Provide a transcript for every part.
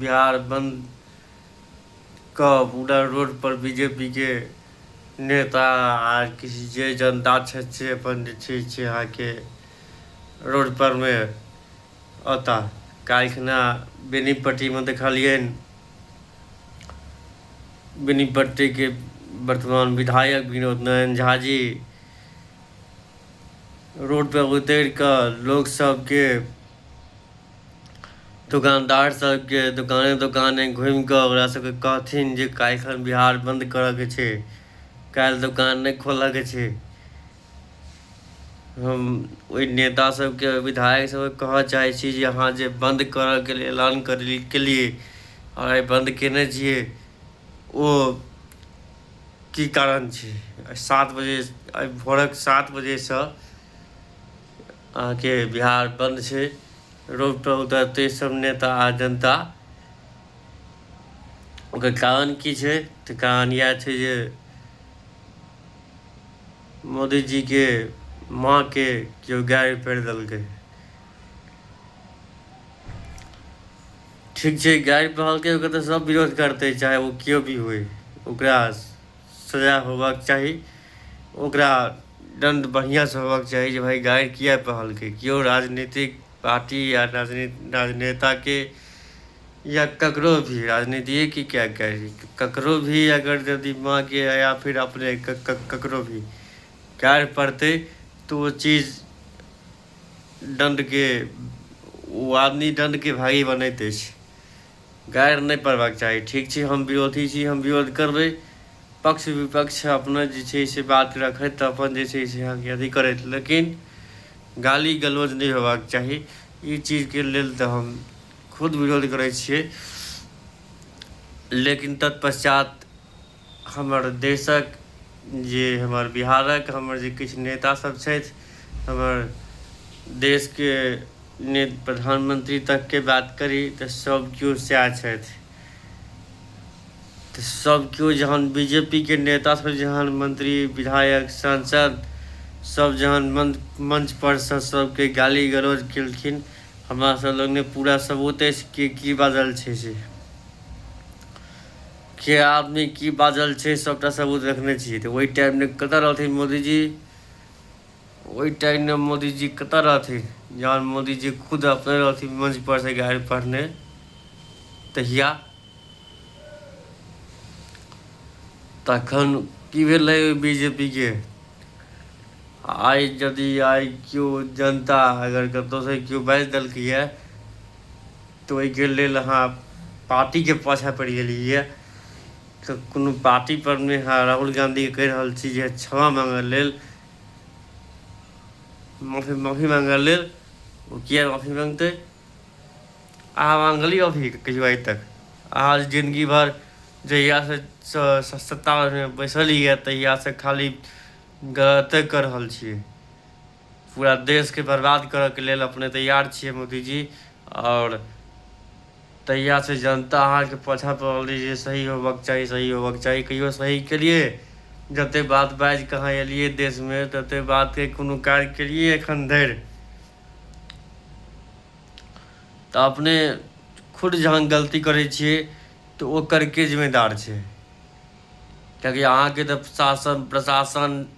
बिहार बन्दके पूरा रोडपर बी जे पी के नेता आ किसी जे जनता छथि से अपन जे छै से अहाँके रोडपरमे अता काल्हिखना बेनीपट्टीमे देखलियनि बेनीपट्टीके वर्तमान विधायक विनोद नारायण झा जी रोडपर उतरि कऽ लोकसभके दोकानदार सबके दोकाने दोकाने घुमि कऽ ओकरा सबके कहथिन जे काल्हिखन बिहार बन्द करऽके छै काल्हि दोकान नहि खोलऽके छै हम ओहि नेता सबके विधायक सबके कहऽ चाहै छी जे अहाँ जे बन्द करऽके लेल ऐलान करली केलिए आओर आइ बन्द केने छिए ओ की कारण छै सात बजे आइ भोरक सात बजेसँ अहाँके बिहार बन्द छै रोड पर उतरते सब नेता आ जनता ओकर कारण की छै तऽ कारण इएह छै जे मोदीजीके माँके केओ गाड़ी पड़ि देलकै ठीक छै गाड़ी पढ़लकै ओकर तऽ सब विरोध करतै चाहे ओ केओ भी होइ ओकरा सजा होबाक चाही ओकरा दण्ड बढ़िआँसँ होबाक चाही जे भाइ गारि किए कहलकै केओ राजनीतिक पार्टी या राजनेताके या ककरो भी राजनीतिए की क्या करी ककरो भी अगर यदि माँके या फिर अपने ककरो भी गारि पड़तै तऽ ओ चीज दण्डके ओ आदमी दण्डके भागी बनैत अछि गारि नहि पड़बाक चाही ठीक छै हम विरोधी छी हम विरोध करबै पक्ष विपक्ष अपना जे छै से बात रखैत तऽ अपन जे छै से अहाँके अथी करैत लेकिन गाली गलौज नहि होयबाक चाही ई चीजके लेल तऽ हम खुद विरोध करै छियै लेकिन तत्पश्चात हमर देशक जे हमर बिहारक हमर जे किछु नेतासभ छथि हमर देशके ने प्रधानमन्त्री तकके बात करी तऽ सभ केओ सएह छथि तऽ सभ केओ जहन बी जे पी के नेतासभ जहन मन्त्री विधायक सांसद सभ जहन मंच पर से सभके गाली गलौज केलखिन हमरा सभ लग ने पूरा सबूत अछि कि की बाजल छै से के आदमी की बाजल छै सभटा सब ओ देखने छियै तऽ ओहि टाइममे कतऽ रहथिन मोदीजी ओहि टाइममे मोदीजी कतऽ रहथिन जहन मोदीजी खुद अपने रहथिन मंच पर से गाड़ि पढ़ने तहिया तखन की भेलै बी जे पी के आइ यदि आइ केओ जनता अगर कतहुसँ केओ बाजि देलकैए तऽ ओहिके लेल अहाँ पार्टीके पाछाँ पड़ि गेलियै तऽ कोनो पार्टी पर नहि अहाँ राहुल गांधीके कहि रहल छी जे क्षमा मांगय लेल माफी माफी मांगय लेल ओ किया माफी मांगतै अहाँ मांगलियै माफी कहियो आइ तक अहाँ जिंदगी भर जहियासँ सत्तामे बैसल यए तहियासँ खाली गलते कऽ रहल छियै पूरा देश के बर्बाद करऽ के लेल अपने तैयार छियै मोदी जी और तहिया से जनता अहाँ के पछा पड़ल रही जे सही होबऽ के चाही सही होबऽ के चाही कहियो सही केलिए जते बात बाज के अहाँ एलिए देश में तते बात के कोनो कार्य केलिए एखन धरि तऽ अपने खुद जहाँ गलती करै छियै तऽ ओकर के जिम्मेदार छै कियाकि अहाँके तऽ शासन प्रशासन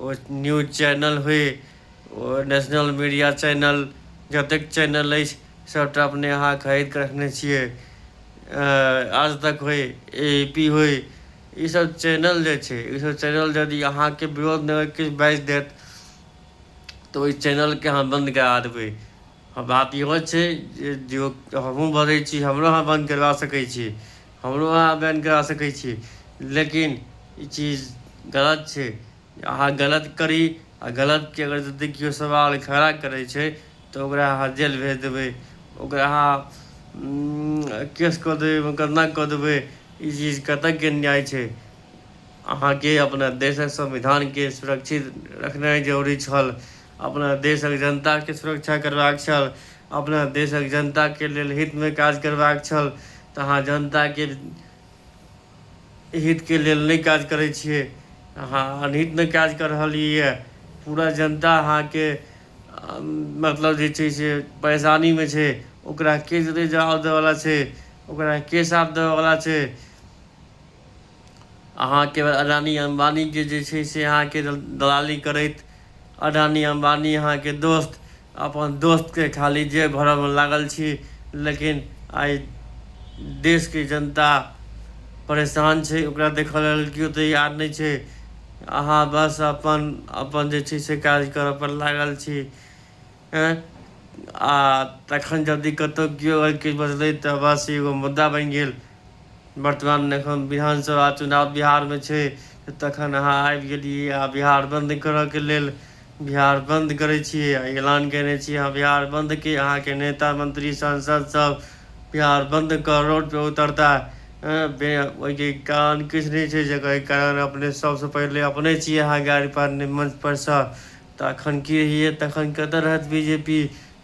ओ न्यूज चैनल होइ ओ नेशनल मीडिया चैनल जतेक चैनल अछि सभटा अपने अहाँ खरीद कऽ रखने छियै आज तक होइ ए ए पी होइ ईसभ चैनल जे छै ईसभ चैनल यदि अहाँके विरोधमे अगर किछु बाजि देत तऽ ओहि चैनलकेँ अहाँ बन्द करा देबै हँ बात इहो छै जे दियौ हमहूँ भरै छी हमरो अहाँ बन्द करबा सकै छी हमरो अहाँ बैन करा सकै छी लेकिन ई चीज गलत छै अहाँ गलत करी आ गलतके अगर जदि केओ सवाल खड़ा करै छै तऽ ओकरा अहाँ जेल भेज देबै ओकरा अहाँ केस कऽ देबै मोकदमा कऽ देबै ई चीज कतयके न्याय छै अहाँके अपना देशक संविधानके सुरक्षित रखनाइ जरूरी छल अपना देशक जनताके सुरक्षा करबाक छल अपना देशक जनताके लेल हितमे काज करबाक छल तऽ अहाँ जनताके हितके लेल नहि काज करै छियै अहाँ अनहितमे काज कऽ रहल यए पूरा जनता अहाँके मतलब जे छै से परेशानीमे छै ओकरा के जवाब देबयवला छै ओकरा के साथ देबयवला छै अहाँके अडानी अम्बानीके जे छै से अहाँके दलाली करैत अडानी अम्बानी अहाँके दोस्त अपन दोस्तके खाली जे भरऽमे लागल छी लेकिन आइ देशके जनता परेशान छै ओकरा देखऽ लेल केओ तैयार नहि छै अहाँ बस अपन अपन जे छै से काज करऽपर लागल छी एँ आ तखन जदि कतहु कियो अगर किछु बजलै तऽ बस एगो मुद्दा बनि गेल वर्तमानमे एखन विधानसभा चुनाव बिहारमे छै तऽ तखन अहाँ आबि गेलियै आ बिहार बन्द करयके लेल बिहार बन्द करै छियै आ ऐलान कयने छियै अहाँ बिहार बन्दके अहाँके नेता मन्त्री सांसदसभ बिहार बन्द कऽ रोडपर उतरता एँ बे ओहिके कारण किछु नहि छै जकर कारण अपने सभसँ पहिले अपने छियै अहाँ गाड़ीपर नहि मंचपर सँ तऽ अखन के हियै तखन कतऽ रहत बी जे पी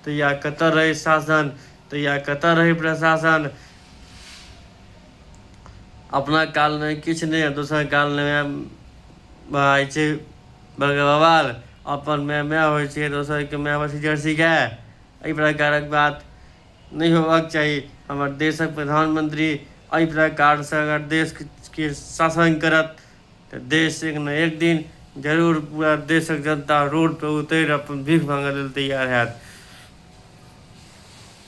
तऽ या कतऽ रहै शासन तऽ या कतऽ रहै प्रशासन अपना कालमे किछु नहि दोसर कालमे भए जाइ छै बगवाल अपन माय माय होइ छै दोसरके माय होइ छै जर्सी गाय एहि प्रकारक बात नहि होबाक चाही हमर देशक प्रधानमंत्री एहि प्रकारसँ अगर देशके शासन करत तऽ देश एक ने एक दिन जरूर पूरा देशक जनता रोड पर उतरि अपन भीख मांगय लेल तैयार हएत।